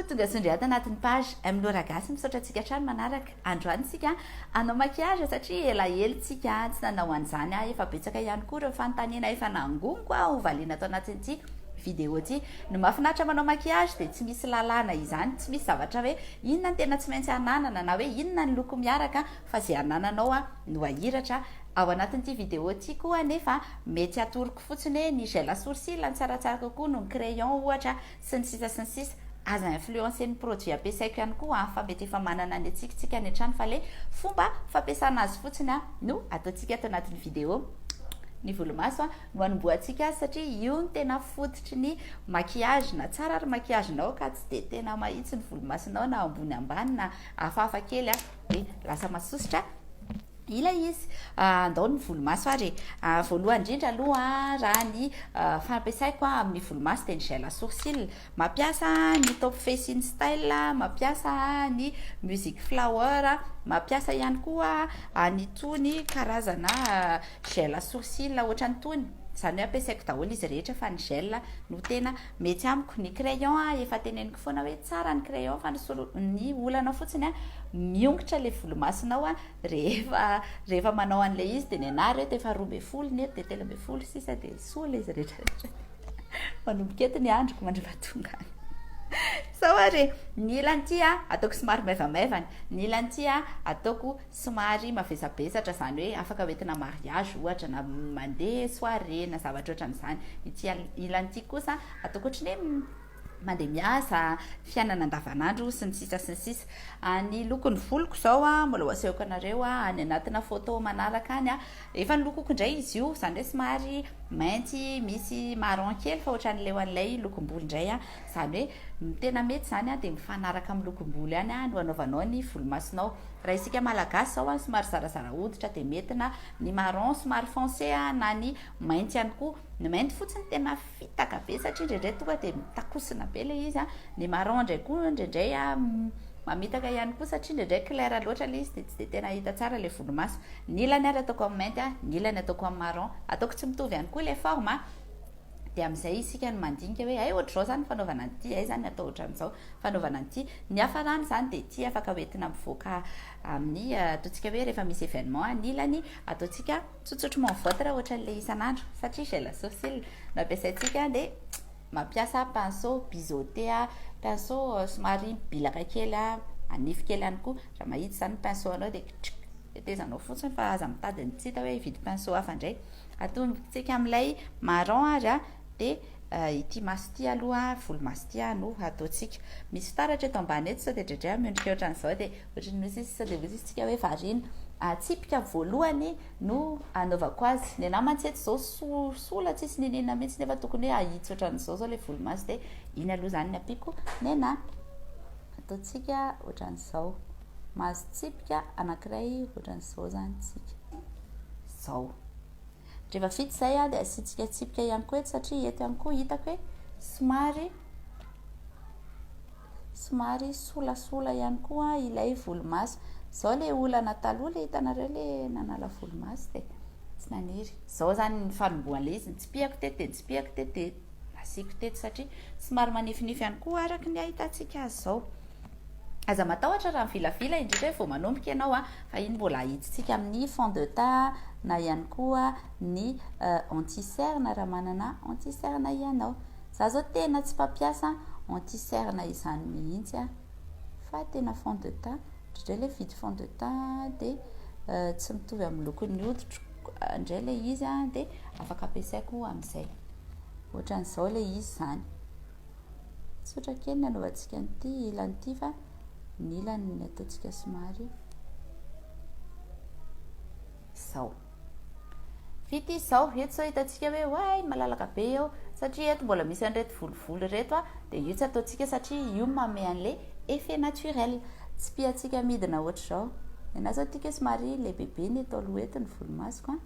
tonga sondry ato anatin'ny page M Lora Gasy misaotra antsika hatrany manaraka androany tsika anao maquillage satria elaelo tsika tsy nanao an'izany aho efa betsaka ihany koa ireo fanontaniana efa nangoniko aho ho valiana ato anatin'ity vidéo ty no mahafinaritra manao maquillage dia tsy misy lalàna izany tsy misy zavatra hoe inona ny tena tsy maintsy ananana na hoe inona ny loko miaraka fa izay anananao a no ahiratra ao anatin'ity vidéo ty koa nefa mety atoroko fotsiny hoe ny gel à sourcils no tsaratsara kokoa noho ny crayon ohatra sy ny sisa sy ny sisa aza influencer ny produit ampiasaiko ihany koa an fa mety efa manana ny atsikontsika any an-trano fa ilay fomba fampiasana azy fotsiny an no ataontsika ato anatin'ny video ny volomaso an no anombohantsika azy satria io no tena fototry ny maquillage na tsara ary maquillage nao ka tsy dia tena mahitsy ny volomasonao na ambony ambany na hafahafa kely an hoe lasa masosotra ilay izy. Ah, andao ny volomaso ary e. Ah, voalohany indrindra aloha raha ny ah, fampiasaiko ah, amin'ny volomaso dia ny gel à sourcil. Mampiasa ny top face in style, mampiasa ny music flower, mampiasa ihany koa an'itony karazana gel à sourcil ohatran'itony. Izany hoe ampiasaiko daholo izy rehetra fa ny gel no tena Mety amiko ny crayon a, efa teneniko foana hoe tsara ny crayon fa ny solo, ny olana fotsiny a, miongotra le volomasonao a, rehefa, rehefa manao an'ilay izy dia ny anah re dia efa roa ambin'ny folo ny eto dia telo ambin'ny folo sisa dia soa ilay izy rehetra rehetra manomboka eto ny androko mandriva tonga any sao ary e, ny ilany ity a ataoko somary maivamaivana, ny ilany ity a ataoko somary mavesabesatra izany hoe afaka hoentina mariage ohatra na mandeha soirée na zavatra ohatran'izany, ity ilany ity kosa atao ohatry ny hoe mandeha miasa, fiainana andavanandro sy ny sisa sy ny sisa, ny lokon'ny voloko izao mbola ho asehoko anareo any anatina photo manaraka any, efa nolokoko indray izy io izany hoe somary mainty misy marron kely fa ohatran'ny leon'ilay lokom-bolo indray. Izany hoe ny tena mety izany dia mifanaraka amin'ny lokom-bolo ihany no anaovanao ny volomasonao. Raha isika Malagasy izao somary zarazara hoditra dia mety na ny marron somary foncé na ny mainty ihany koa. Ny mainty fotsy no tena fitaka be satria indraindray tonga dia mitakosona be ilay izy. Ny marron indray koa indraindray mamitaka ihany koa satria indraindray clair loatra ilay izy dia tsy dia tena hita tsara ilay volomaso. Ny ilany ary ataoko amin'ny mainty, ny ilany ataoko amin'ny marron. Ataoko tsy mitovy ihany koa ilay forme. dia amin'izay isika no mandinika hoe hay ohatr'izao izany ny fanaovana an'ity, hay izany atao ohatran'izao ny fanaovana an'ity. Ny hafarana izany dia ity afaka hoentina mivoaka amin'ny, eh, ataontsika hoe rehefa misy événement anilany, ataontsika tsotsotry mon votre ohatran'ilay isan'andro, satria gel à sourcil no ampiasaintsika, dia mampiasa pinceau biseauté, pinceau eh, somary bilaka kely hanify kely ihany koa, raha mahitsy izany ny pinceau-nao dia kitrrk, tetezanao fotsiny fa aza mitady ny tsy hita hoe hividy pinceau hafa indray. Atongitsika amin'ilay marron ary a, dia ity maso ity aloha, volomaso ity a, no hataontsika. Misy fitaratra eto ambany eto, sao dia dredrey a, miondrika ohatran'izao dia ohatran'ny hoe zis, sao dia hoe zis-tsika hoe variana. Tsipika voalohany no anaovako azy. Ny anà mantsy eto izao soa, sola tsisy n'inon'inona mihitsy nefa tokony hoe hahitsy ohatran'izao izao ilay volomaso dia iny aloha izany ny ampiako ny anà. Ataontsika ohatran'izao. Mahazo tsipika anankiray ohatran'izao izany isika. zao. Rehefa vita izay dia asiantsika tsipika ihany koa eto satria eto ihany koa hitako hoe somary somary solasola ihany koa ilay volomaso. Izao ilay olana taloha ilay hitanareo ilay nanala volomaso dia tsy naniry. Izao izany ny fanombohan'ilay izy, nitsipihako teto dia nitsipihako teto dia nasiako teto satria somary manifinify ihany koa araka ny ahitantsika azy izao. Aza matahotra raha mivilavila indrindra hoe vao manomboka ianao an, fa iny mbola ahitsitsika amin'ny fond de teint na ihany koa ny anti cerne raha manana anti cerne ianao. Za zao tena tsy mpampiasa anti cerne izany mihitsy an, fa tena fond de teint, indraindray ilay mividy fond de teint dia tsy mitovy amin'ny lokon'ny hoditro indray ilay izy an, dia afaka ampiasaiko amin'izay, ohatran'izao ilay izy izany. Tsotra kely ny anaovantsika an'ity ilany ity fa ny ilany ny ataontsika somary izao. Vita izao, eto izao hitantsika hoe oay malalaka be eo satria eto mbola misy an'ireto volovolo ireto a, dia io tsy ataontsika satria io manome an'ilay effet naturel. Tsipihantsika midina ohatr'izao. Ny anà izao tiako hoe somary lehibebe ny eto aloha eto ny volomasoko a.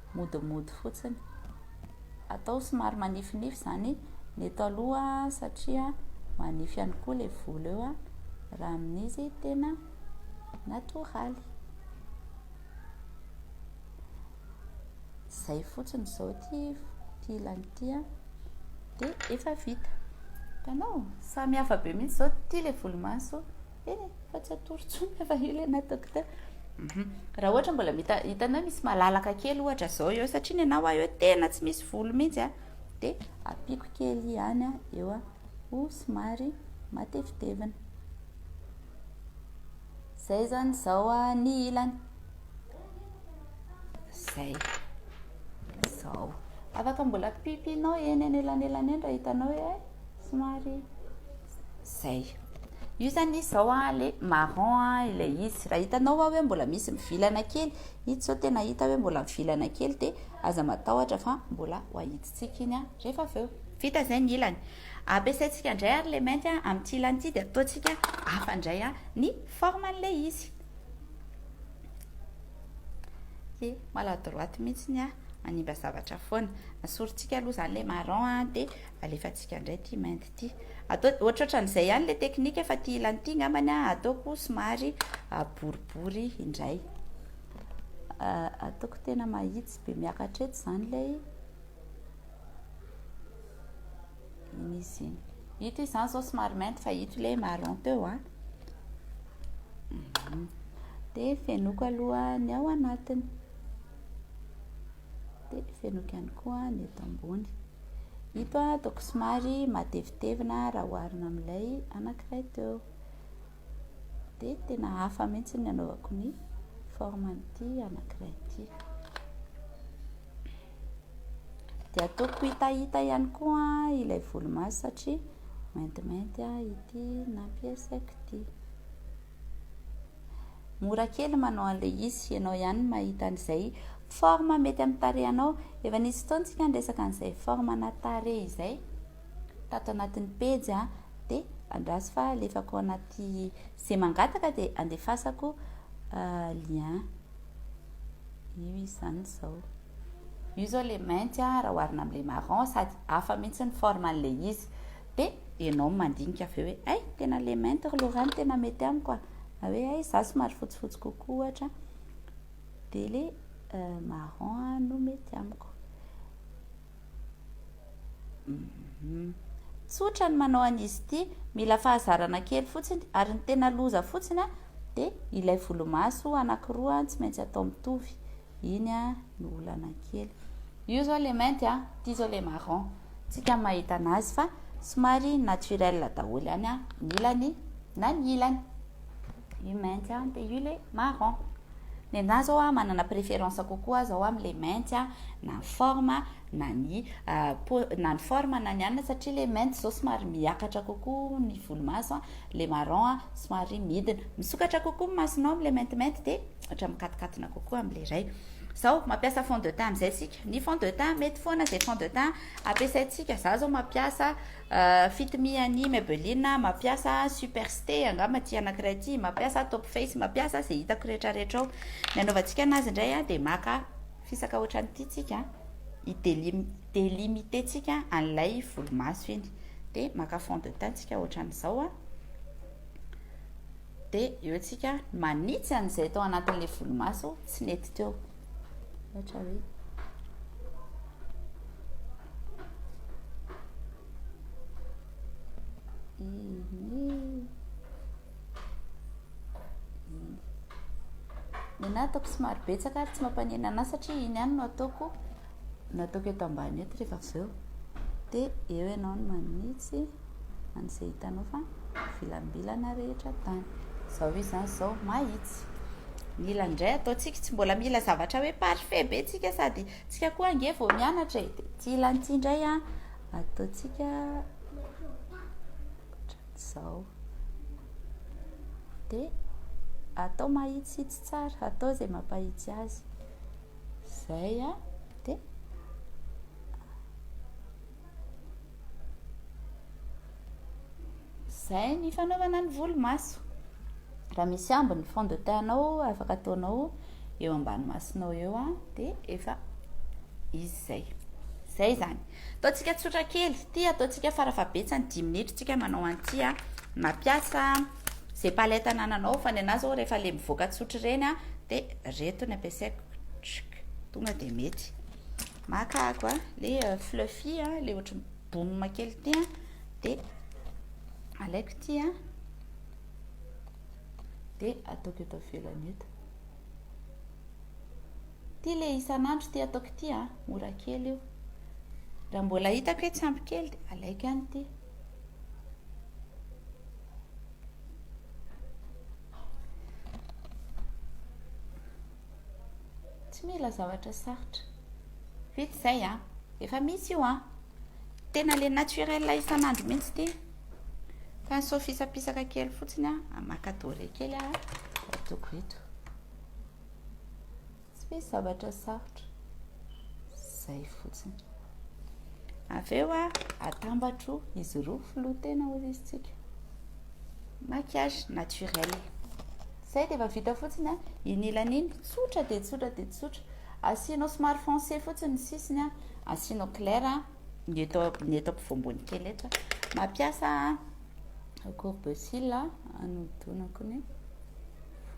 modimody fotsiny. Atao somary manifinify izany ny eto aloha satria manify ihany koa ilay volo eo raha amin'izy tena natoraly. Izay fotsiny izao ity ilany ity dia efa vita. Hitanao? Samy hafa be mihitsy izao. Ity ilay volomaso Eh, fa tsy atoro intsony fa efa ela ianao docteur. Mhm. Raha ohatra mbola mita hitanao misy malalaka kely ohatra zao eo satria ny anao aho eo tena tsy misy volo mihitsy a. Dia apiako kely ihany a eo a ho somary matevitevina. Zay zany zao a ny ilany. Zay. Zao. Afaka mbola pipihinao eny anelanelany eny raha hitanao hoe eh, somary zay. Io zany izy zao a le marron a ilay izy. Raha hitanao a hoe mbola misy mivilana kely, ito zao tena hita hoe mbola mivilana kely dia aza matahotra fa mbola ho ahitsitsika iny a rehefa avy eo. Vita zay ny ilany. Ampiasaintsika indray ary le mainty a amin'ity ilany ity dia ataontsika hafa indray a ny forme an'ilay izy. He, maladroite mihitsy ny ahy, manimba zavatra foana. Asorintsika aloha izany ilay marron an, dia alefantsika indray ity mainty ity. Atao ohatrohatran'izay ihany ilay teknika fa ity ilany ity angambany an, ataoko somary boribory indray. Ataoko tena mahitsy be miakatra eto izany ilay. Misy. Ito izany izao somary mainty fa ito ilay marron teo an. Ah. Dia fenoko aloha ny ao anatiny. Dia fenoko ihany koa ny eto ambony. Ito ataoko somary matevitevina raha oharina amin'ilay anankiray teo. Dia tena hafa mihitsy ny anaovako ny forme an'ity anankiray ity. Dia ataoko hitahita ihany koa ilay volomaso satria maintimainty ity nampiasaiko ity. Mora kely manao an'ilay izy, ianao ihany mahita an'izay forme mety amin'ny tarehinao. Efa nisy fotoana isika niresaka an'izay forme ana tarehy izay tato anatin'ny pejy a, dia andraso fa alefako anaty izay mangataka dia andefasako lien. Io izany izao. Io izao le mainty a, raha oharina amin'ilay marron, sady hafa mihitsy ny forme an'ilay izy. Dia ianao mandinika avy eo hoe, hay, tena le mainty ry Laura no tena mety amiko a! Na hoe, hay, izaho somary fotsifotsy kokoa ohatra, dia le marron no mety amiko. Tsotra ny manao an'izy ity, mila fahazarana kely fotsiny, ary ny tena loza fotsiny dia ilay volomaso anakiroa tsy maintsy atao mitovy, iny no olana kely. Io zao le mainty an, ity zao le marron, tsika ny mahita anazy fa somary naturel daholo ihany an, ny ilany na ny ilany. Io mainty an, dia io ilay marron. Ny anà izao an, manana préférence kokoa aho izao amin'ilay mainty an, na ny forme na ny po, na ny forme na ny anona, satria ilay mainty izao somary miakatra kokoa ny volomaso an, ilay marron an somary midina. Misokatra kokoa ny masonao amin'ilay maintimainty dia ohatra mikatokatona kokoa amin'ilay iray. Izao, mampiasa fond de teint amin'izay isika. Ny fond de teint, mety foana izay fond de teint ampiasaintsika. Izaho izao mampiasa Fit me an'i Maybelline mampiasa super ste angamba ity anankiray ity mampiasa top face mampiasa izay hitako rehetra rehetra ao ny anaovantsika anazy indray a dia maka fisaka ohatran'ity tsika hidelim delimiter tsika an'ilay volomaso iny dia maka fond de teint tsika ohatran'izao a Dia eo tsika manitsy an'izay tao anatin'ilay volomaso tsy nety teo. Ohatra hoe. Ny anahy ataoko somary betsaka ary tsy mampanenana satria iny ihany no ataoko. nataoko eto ambany eto rehefa avy eo dia eo ianao no manitsy an'izay hitanao fa vilambilana rehetra tany izao izy izany izao mahitsy mila indray ataontsika tsy mbola mila zavatra hoe parfait be tsika sady tsika koa ange vao mianatra e dia tsy ilan'ity indray a ataontsika ohatran'izao dia atao mahitsitsy tsara atao izay mampahitsy azy Zay a de Zay ny fanaovana ny volo maso raha misy ambo ny fond de teint nao afaka ataonao eo ambany masonao eo a de efa izy zay zay zany ataontsika tsotra kely ty ataontsika farafahabetsany dimy minitra tsika manao an'ity a mampiasa Ze palette anananao fa ny anah zao rehefa le mivoaka tsotra ireny an de reto ny ampiasaiko tschk tonga de mety maka ako an le fluffy an le ohatry ny boum kely ty an de alaiko ty an de ataoko eto avelany eto ty le isan'andro ty ataoko ty an mora kely io raha mbola hitako hoe tsy ampy kely de alaiko ihany ty tsy mila zavatra sarotra vita izay a efa misy io a tena le naturel isan'andro mihitsy ity fa ny sofisapisaka kely fotsiny a maka dore kely a atoko eto Tsy misy zavatra sarotra. Zay fotsiny. Avy eo a, atambatro izy roa filoha tena hozy izy tsika. Maquillage naturel. Zay dia efa vita fotsiny a, iny ilany iny, tsotra dia tsotra dia tsotra. Asianao somary foncé fotsiny ny sisiny a, asianao clair a, ny eto ny eto ampovoambony kely eto. Mampiasa courbe cils a, anodinako ny.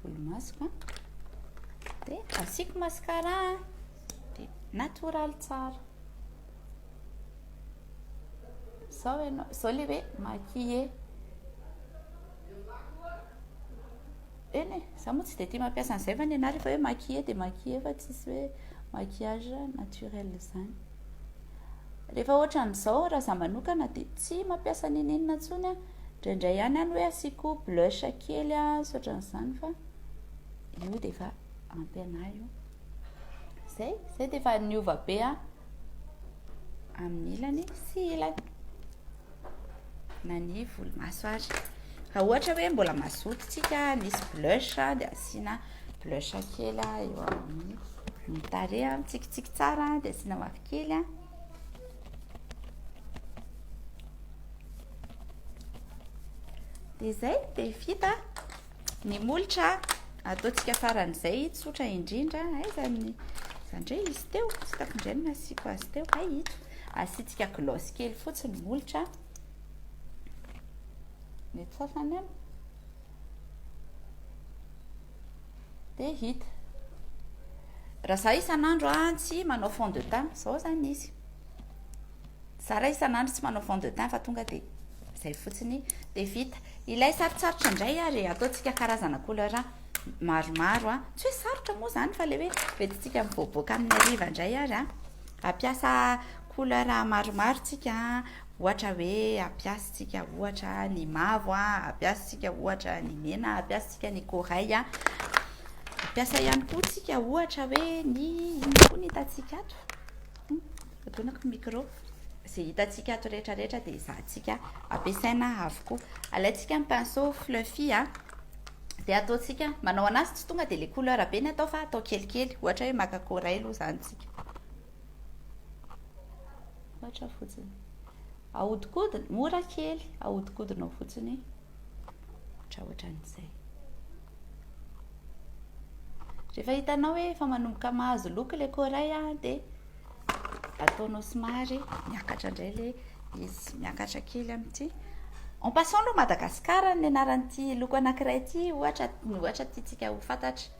volo masoko a dia asiako mascara a dia natoraly tsara zao ianao zao le hoe maquille eny e za moa tsy dia tia mampiasa an'izay fa ny anah rehefa hoe maquille dia maquille fa tsisy hoe maquillage naturel zany rehefa ohatran'izao raha za manokana dia tsy mampiasa nini inona intsony a Indraindray ihany any hoe asiako blush kely a, sy ohatran'izany fa io dia efa ampy anà io. Zay, zay dia efa niova be a amin'ny ilany sy ilany. Na ny volomaso ary. Raha ohatra hoe mbola mazoto tsika, nisy blush dia asiana blush kely eo amin'ny tarehy, mitsikitsiky tsara dia asiana mavokely a. Dia izay, dia vita ny molotra. Ataontsika faran'izay, tsotra indrindra. Aiza ny... Izany indray izy teo, tsy tako indray no nasiako azy teo. Hay ito, asiantsika gloss kely fotsiny ny molotra. Ny atsafany an. dia hita raha za isan'andro a tsy manao fond de teint zao zany izy za raha isan'andro tsy manao fond de teint fa tonga dia zay fotsiny dia vita ilay sarotsarotra indray ary ataontsika karazana couleur maromaro a tsy hoe sarotra moa zany fa le hoe retintsika mivoaboaka amin'ny ariva indray ary a ampiasa couleur maromaro tsika Ohatra hoe, ampiasintsika ohatra ny mavo, ampiasintsika ohatra ny mena, ampiasintsika ny corail. Ampiasa ihany koa tsika ohatra hoe ny inona koa ny hitantsika ato? Hmm, adonako ny micro. Izay hitantsika ato rehetrarehetra dia ezahantsika ampiasaina avokoa. Alaintsika ny pinceau fluffy dia ataontsika manao anazy tsy tonga dia ilay couleur be ny atao fa atao kelikely. Ohatra hoe maka corail izany tsika. Ohatra fotsiny. Ahodikodina, mora kely, ahodikodinao fotsiny. Ohatra ohatran'izay. Rehefa hitanao hoe efa manomboka mahazo loko ilay koray dia ataonao somary miakatra indray ilay izy, miakatra kely amin'ity. En passant aloha Madagascar ny anaran'ity loko anankiray ity, ohatra, ohatra tiantsika ho fantatra.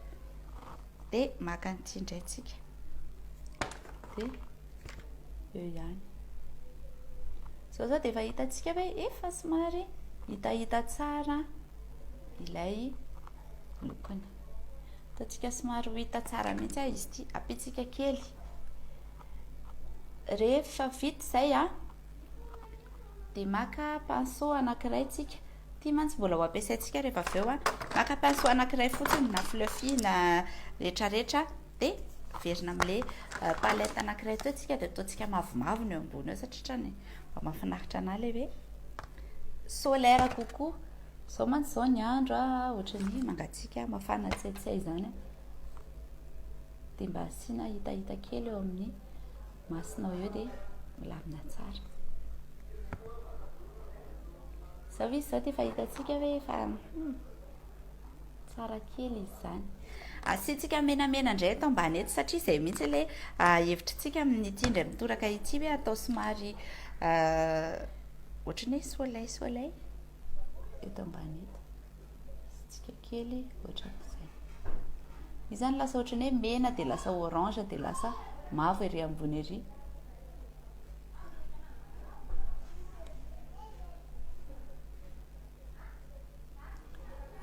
Dia maka an'ity indray tsika. Dia eo ihany. Zao zao dia efa hitantsika hoe efa somary hitahita tsara ilay lokony. Hitantsika somary ho hita tsara mihitsy ah izy ity. Apitsika kely. Rehefa vita izay ah, dia maka pinceau anankiray tsika. Ity mantsy mbola ho ampiasaintsika rehefa avy eo a. Maka pinceau anankiray fotsiny na fluffy na retraretra dia averina amin'ilay euh, palette anankiray teo tsika dia ataontsika mavomavo ny eo ambony eo satria trany mba mahafinaritra anà ilay hoe solaire kokoa. Izao mantsy izao ny andro a, ohatran'ny mangatsiaka, mafana tsiatsiay izany a. Dia mba asiana hitahita kely eo amin'ny Masonao eo dia milamina tsara. Izao izy izao dia efa hitantsika hoe efa hmm, tsara kely izy izany. Asiantsika menamena indray eto ambany eto satria izay mihitsy ilay ah, hevitritsika amin'ity indray mitoraka ity hoe atao somary ah, ohatran'ny hoe soleil soleil eto ambany eto. tsikakely ohatran'izay. Izany lasa ohatran'ny hoe mena dia lasa orange dia lasa mavo ery ambony ery.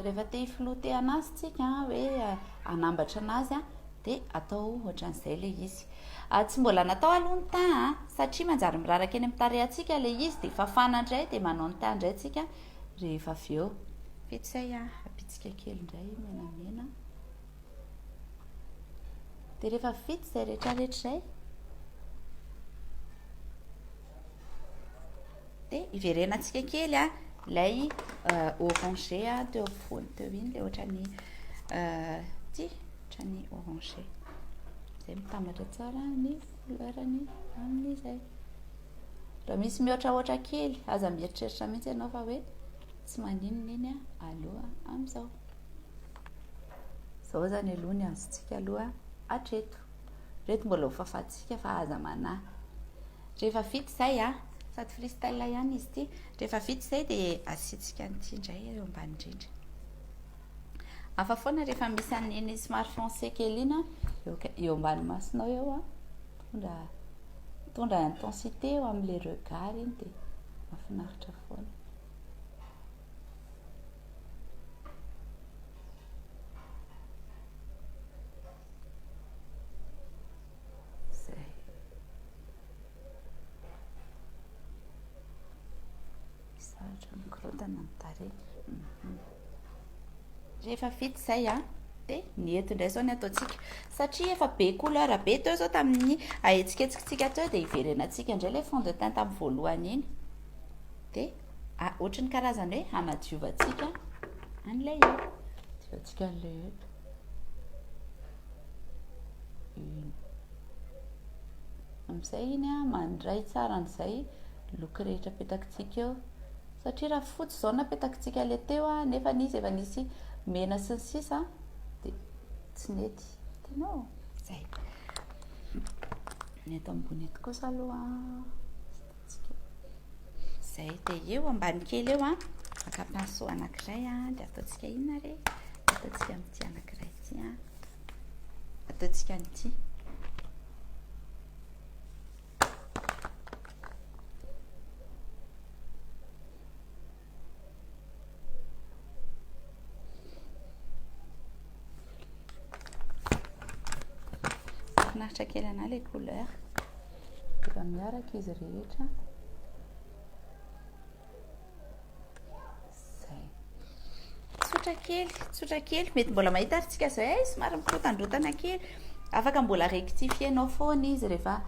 Rehefa te hifilotehana azy tsika hoe anambatra anazy a dia atao ohatran'izay le izy. Ah, tsy mbola natao aloha ny teint satria manjary miraraka eny amin'ny tarehantsika le izy dia fafana indray dia manao ny teint indray tsika rehefa avy eo. Petsay a, bitsika kely indray menamena. Dia rehefa vita izay rehetrarehetra izay, dia iverenantsika kely a, ilay euh, orange a, teo amin'ny fony teo iny, ilay ohatran'ny euh, ty, ohatran'ny orange. Izay mitambatra tsara ny couleur-ny amin'izay. Raha misy mihoatrahoatra kely, aza mieritreritra mihitsy ianao fa hoe tsy maninon'iny aloha amin'izao. Izao izany aloha ny azontsika aloha hatreto. Ireto mbola ho fafantsika fa aza manahy. Rehefa vita izay, ah, sady freestyle ihany izy ity. Rehefa vita izay dia asiantsika an'ity indray eo ambany indrindra. Hafa foana rehefa misy an'iny somary français kely iny eo ambany masonao eo, ah. Mitondra mitondra intensité eo amin'ilay regard iny dia mahafinaritra foana. Sarotra mikorontana ny tarehy. Rehefa vita izay a, dia ny eto indray izao ny ataontsika. Satria efa be couleur be teo izao tamin'ny ahetsiketsikitsika teo dia hiverenantsika indray ilay fond de teint tamin'ny voalohany iny. Dia ah, ohatry ny karazana hoe hanadiovantsika an'ilay eto. Diovantsika an'ilay eto. Amin'izay iny a, mandray tsara an'izay look rehetra petakitsika eo. Satria raha fotsy zao napetakitsika le teo a, nefa izy efa nisy mena sy ny sisa de tsy nety. Hitanao? Zay. Ny eto ambony eto kosa aloha hitantsika. Zay de eo ambany kely eo a, maka pinceau anankiray a, de ataontsika inona re? Ataontsika amin'ity anankiray ity a. Ataontsika an'ity. kely anà le couleur efa miaraka izy rehetra Zay. Tsotra kely, tsotra kely. Mety mbola mahita ary tsika zay, eh, somary mikotandrotana kely. Afaka mbola rectifier-nao foana izy rehefa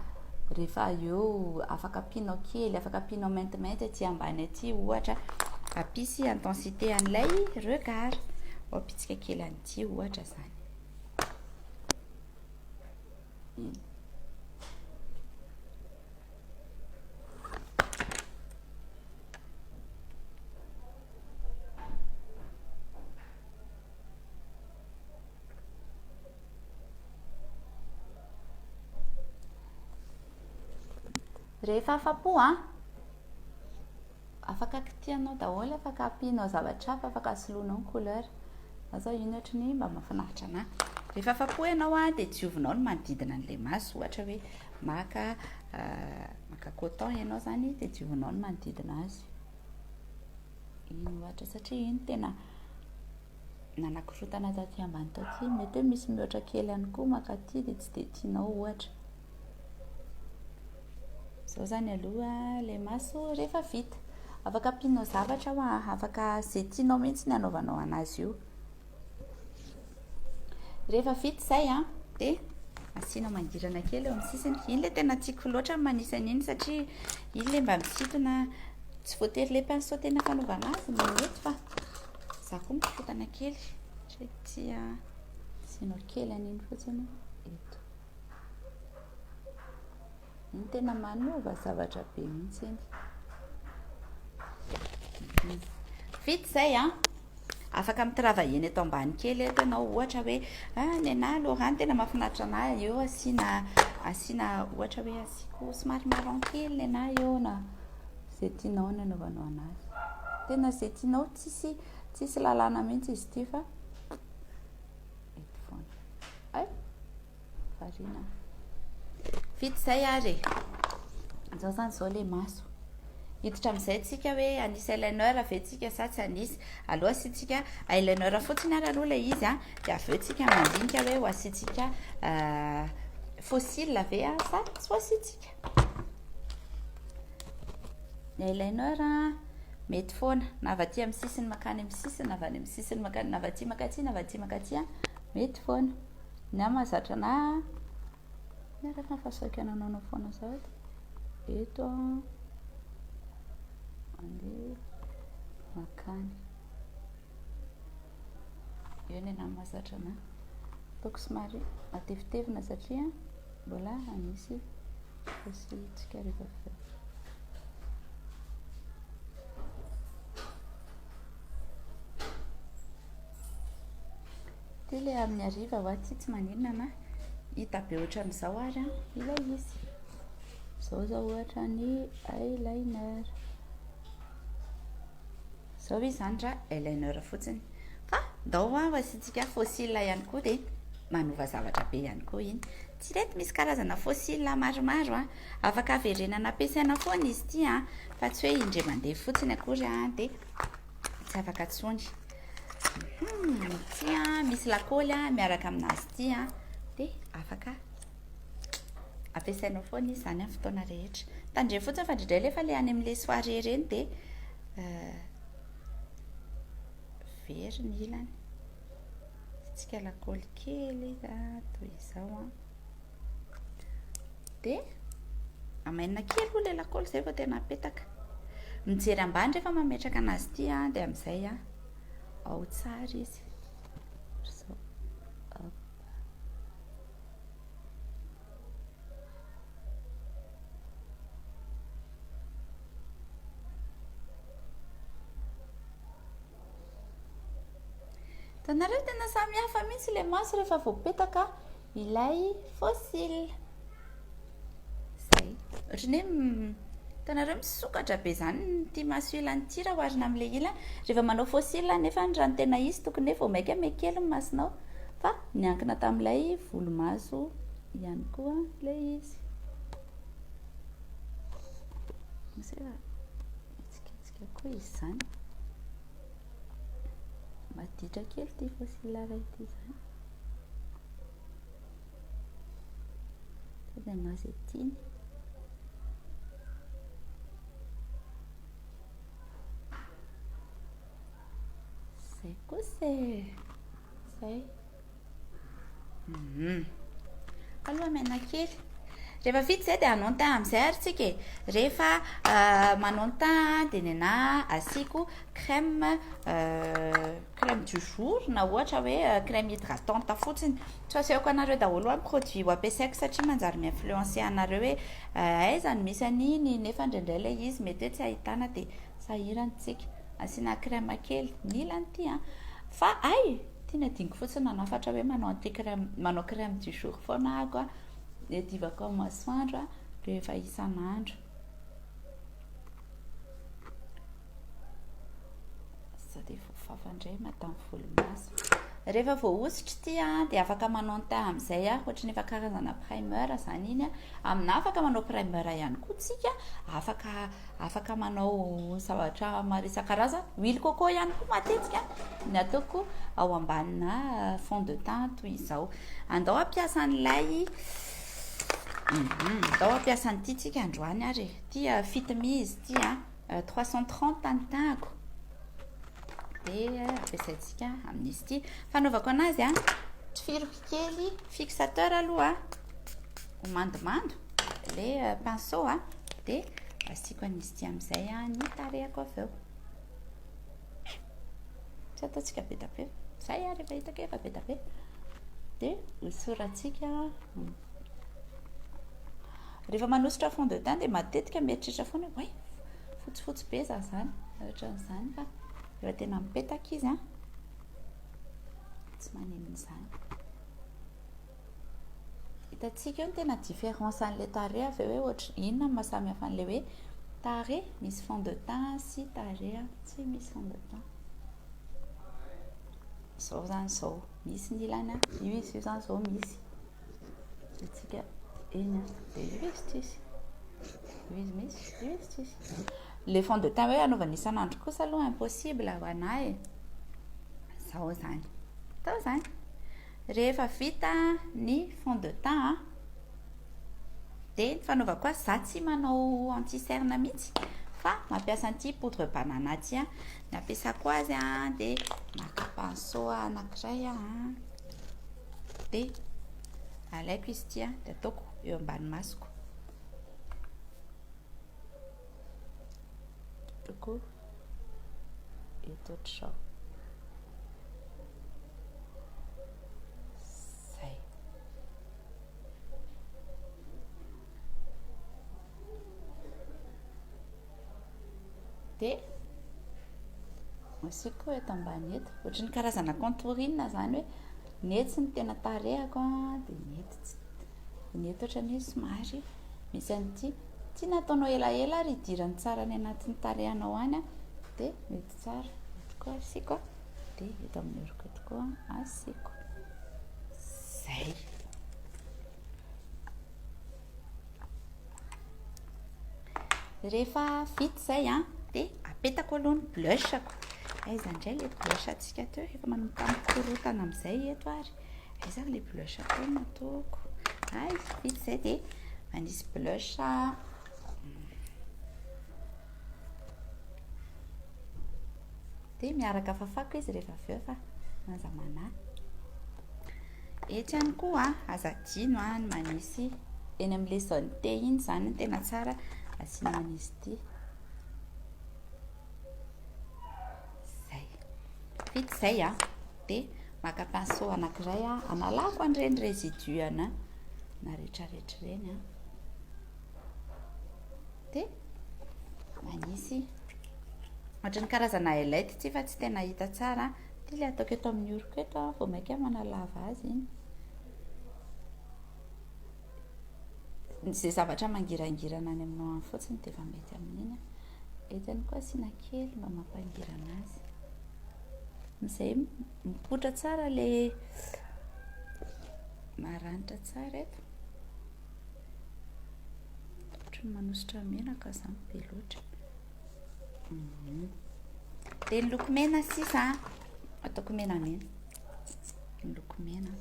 rehefa eo afaka ampianao kely, afaka ampianao maintimainty aty ambany aty ohatra. Ampisy intensité an'ilay regard. Ho ampitsika kely an'ity ohatra zany. Hmm. Rehefa afa-po an. Afaka kitihanao daholo, afaka ampianao zavatra hafa, afaka soloinao ny couleur. Za zao iny ohatry ny mba mahafinaritra anah. Rehefa afa-po ianao dia diovinao ny manodidina an'ilay maso. Ohatra hoe maka maka coton ianao zany dia diovinao ny manodidina azy. Iny ohatra satria iny tena nanakorontana taty ambany taty. Mety hoe misy mihoatra kely ihany koa mankaty dia tsy dia tianao ohatra. Izao izany aloha ilay maso rehefa vita. Afaka ampianao zavatra aho an, afaka izay tianao mihitsy ny hanaovanao anazy io. Rehefa vita izay an, dia asianao mangirana kely eo amin'ny sisiny. Iny ilay tena tiako loatra ny manisa an'iny satria iny ilay mba misintona, tsy voatery ilay pinceau tena fanaovana azy no mety fa izaho koa mikorontana kely satria tia asianao kely an'iny fotsiny eto. Iny tena manova zavatra be mihitsy iny. Vita izay an. Ah. Afaka mitravaillena eto ambany kely eto ianao ohatra hoe ah nenah Laura tena mahafinaritra anah eo asiana asiana ohatra hoe asiako somary marron kely nenah eo na izay tianao ny anaovanao anazy. Tena izay tianao tsisy tsisy lalàna mihitsy izy ity fa eto foana. Ay! Variana. Vita izay ary e. Izao izany izao ilay maso. Hiditra amin'izay tsika hoe anisy eyeliner ve tsika sa tsy anisy. Aloha asiantsika eyeliner fotsiny ary aloha ilay izy an. Dia avy eo tsika mandinika hoe ho asiantsika fossile ve sa tsy ho asiantsika. Ny eyeliner mety foana na avy aty amin'ny sisiny makany amin'ny sisiny na avy any amin'ny sisiny makany na avy aty makaty na avy aty makaty mety foana. Ny ahy mahazatra na ny ahy rehefa mifasaoka nanaonao foana zao eto mandeha makany. Eo ny ahy mahazatra na ataoko somary matevitevina satria Mbola hanisy fosiantsika rehefa vita ny Ity le amin'ny hariva wa ty tsy maninona na hita be ohatran'izao ary an ilay izy. Izao izao ohatra ny eyeliner. Zao izy zany ra eyeliner fotsiny fa ndao hoa ho asiantsika fossiles ihany koa dia manova zavatra be ihany koa iny. Tsy re eto misy karazana fossiles maromaro a! Afaka averenana ampiasaina foana izy ity a! Fa tsy hoe indray mandeha fotsiny akory a dia tsy afaka intsony. Ity a, misy lakôly a miaraka amin'azy ity a dia afaka ampiasainao foana izy izany amin'ny fotoana rehetra. Tandremo fotsiny fa indraindray lefa le any amin'ilay soirée ireny dia euh, very ny ilany. Tsika lakôly kely izy ah, toy izao an. Ah. Dia amainina kely ho ilay lakôly izay vao tena apetaka. Mijery ambany rehefa mametraka anazy ity an, ah, dia amin'izay an, ah, ao tsara izy. Tanareo tena samy hafa mihitsy le maso rehefa voapetaka ilay fossile. Zay. Ohatran'ny hoe hitanareo misokatra be izany ity maso ilany ity raha oharina amin'ilay ilany. Rehefa manao faux cils anefa raha ny tena izy tokony hoe vao mainka miha kely ny masonao fa niankina tamin'ilay volomaso ihany koa ilay izy. Misy efa hitsikitsika koa izy izany. Maditra kely ity faux cils iray ity izany. Sady anà izay tiany. Izay kosa e. Izay. Mhm. Aloha menakely. Rehefa vita izay dia hanao ny teint amin'izay ary tsika e. Rehefa euh, manao ny teint dia ny anà asiako crème euh, crème du jour na ohatra hoe crème hydratante fotsiny, tsy asehoko anareo daholo hoe produit ho ampiasaiko satria manjary mi-influencer anareo hoe aiza no misy an'iny nefa indraindray ilay izy mety hoe tsy ahitana dia sahirana isika asiana crème kely, nila an'ity an! fa hay ity no adinoko fotsiny nanafatra hoe manao an'ity crème, manao crème du jour foana aho an! iadivako amin'ny masoandro rehefa isan'andro. sao dia voafafa indray madame volomaso rehefa voahosotra ity a dia afaka manao ny teint amin'izay a ohatra ny efa karazana primer izany iny a amina afaka manao primer ihany koa tsika afaka afaka manao zavatra maro isan-karazany huile coco ihany koa matetika ny ataoko ao ambanina euh, fond de teint toy izao andao ampiasa an'ilay mhm. andao ampiasa an'ity tsika androany ary e. tia euh, fitimizy ity a Euh, trois cent trente ny tahako dia ampiasaintsika amin'izy ity fanaovako anazy a tifiriko kely fixateur aloha ho mandomando le euh, pinceau a dia asiako an'izy ity amin'izay a ny tarehako avy eo Tsy ataontsika be dia be. Izay ary efa hitako efa be dia be. Dia hosoratsika. Rehefa manosotra fond de teint dia matetika mieritreritra foana hoe fotsifotsy be za izany. Ohatran'izany fa rehefa tena mipetaka izy an. Tsy maninona izany. Hitantsika eo ny tena différence an'ilay tarehy avy eo hoe ohatry inona no maha samihafa an'ilay hoe tarehy misy fond de teint sy tarehy tsy misy fond de teint. Izao izany izao misy ny ilany an, io izy io izany izao misy. Hitantsika eny an, dia io izy tsisy. Io izy misy, io izy tsisy. Ilay fond de teint hoe anaovana isan'andro kosa aloha impossible ho anà e. Izao izany. Izao izany. Rehefa vita ny fond de teint dia ny fanaovako azy, za tsy manao anti cerne mihitsy fa mampiasa an'ity poudre banana ity, ny ampiasako azy dia maka pinceau anankiray aho dia alaiko izy ity dia ataoko eo ambany masoko. eto ohatr'izao zay dia asiako eto ambany eto ohatry ny karazana contouring zany hoe ny etsy ny tena tarehako dia ny eto tsy ny eto ohatran'ny hoe somary misy an'ity Tsy nataonao elaela ary idirany tsara any anatin'ny tarehanao any dia mety tsara. Eto koa asiako dia eto amin'ny oroko eto koa asiako. Zay. Rehefa vita zay an, dia apetako aloha ny blushako. Aiza indray ilay blush antsika teo, efa manomboka mikorotana amin'izay eto ary. Aiza ilay blush atao no ataoko? Ah, izy vita izay dia manisy blush. Dia miaraka fafako izy rehefa avy eo fa manja manahy. Etsy ihany koa, aza adino any manisy eny amin'ilay zone T iny izany no tena tsara asiana manisy ity. Izay. Vita izay ah. Dia maka pinceau anankiray aho, hanalako an'ireny résidus ana na retraretra ireny an. Dia manisy ohatry ny karazana highlight ity fa tsy tena hita tsara. Ity ilay ataoko eto amin'ny oroko eto aho vao mainka manalava azy iny. Izay zavatra mangirangirana any aminao any fotsiny dia efa mety amin'iny. Eto ihany koa asiana kely mba mampangirana azy. Amizay mipoitra tsara le maranitra tsara eto. Ohatry ny manosotra menaka zany be loatra. Mhm. Dia ny loko mena sisa ataoko menamena. Ny loko mena.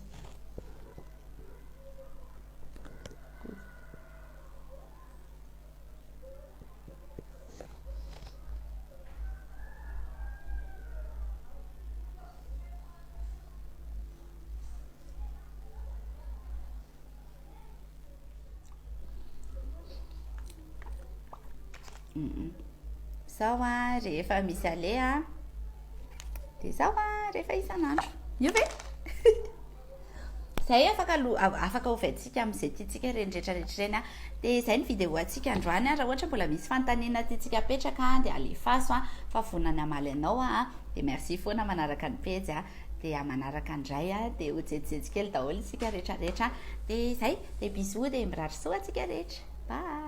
Izao an, rehefa misy aleha an, dia izao an, rehefa isan'andro. Io ve? Zay afaka afaka hovaintsika amin'izay tiantsika ireny rehetra rehetra ireny a dia izay ny vidéo antsika androany a raha ohatra mbola misy fanontaniana tiantsika apetraka a dia alefaso a fa vonona ny hamaly anao aho dia merci foana manaraka ny pejy a dia manaraka indray a dia ho jejijejy kely daholo isika rehetra rehetra dia izay dia bisous dia mirary soa antsika rehetra bye